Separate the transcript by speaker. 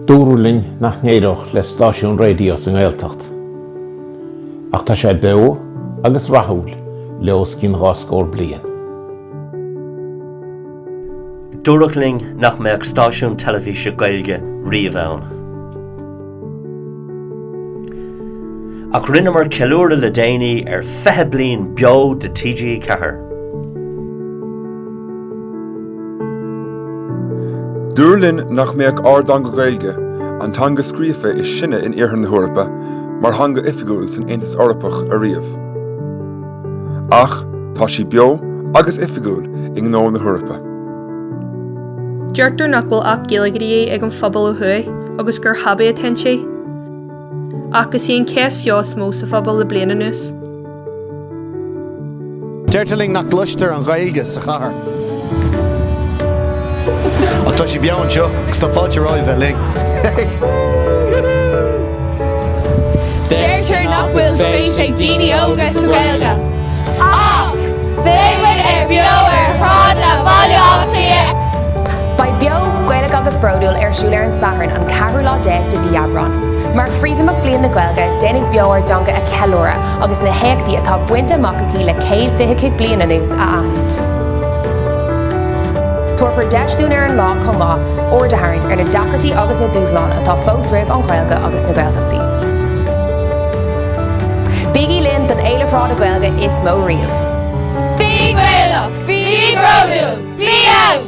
Speaker 1: Dúradh linn nach n-éireodh le stáisiún raidió sa nGaeltacht. Ach tá sé beo agus rathúil le os cionn dhá scór bliain. Dúradh linn nach mbeadh stáisiún teilifíse Gaeilge riamh ann. Ach rinneamar ceiliúradh le déanaí ar 20 bliain beo de TG4. Dúradh linn nach mbeadh ár dteanga Gaeilge, an teanga scríofa is sine in Iarthar na hEorpa, mar theanga oifigiúil san Aontas Eorpach ariamh. Ach tá sí beo agus oifigiúil i ngnó na hEorpa. Deirtear nach bhfuil Acht Gaeilge de dhíth ag an phobal ó thuaidh agus gur hobby atá inti. Ach is í an cheist bheo is mó sa phobal le bliain anuas. Deirtear linn nach gcloistear an Ghaeilge sa chathair. Ach tá sí beo anseo agus tá fáilte romhaibh bheith linn! Deirtear nach bhfuil spéis ag daoine óga sa Ghaeilge. Ach beidh muid an-bheo ar shráideanna Bhaile Átha Cliath! Beidh Beo, Gaeilge agus Bródúil ar siúl ar an Satharn an ceathrú lá déag de mhí Aibreán. Mar phríomhimeacht Bhliain na Gaeilge, déanfaidh Beo ár dteanga a cheiliúradh agus na héachtaí atá bainte amach aici le céad fiche cúig bliain anuas a aithint. Tabharfar deis dúinn ar an lá chomh maith aird a tharraingt ar na deacrachtaí agus na dúshláin atá fós roimh an Ghaeilge agus na Gaeltachtaí. Bígí linn don fhéile shráide Gaeilge is mó riamh! Bí Gaelach! Bí bródúil! Bí ann!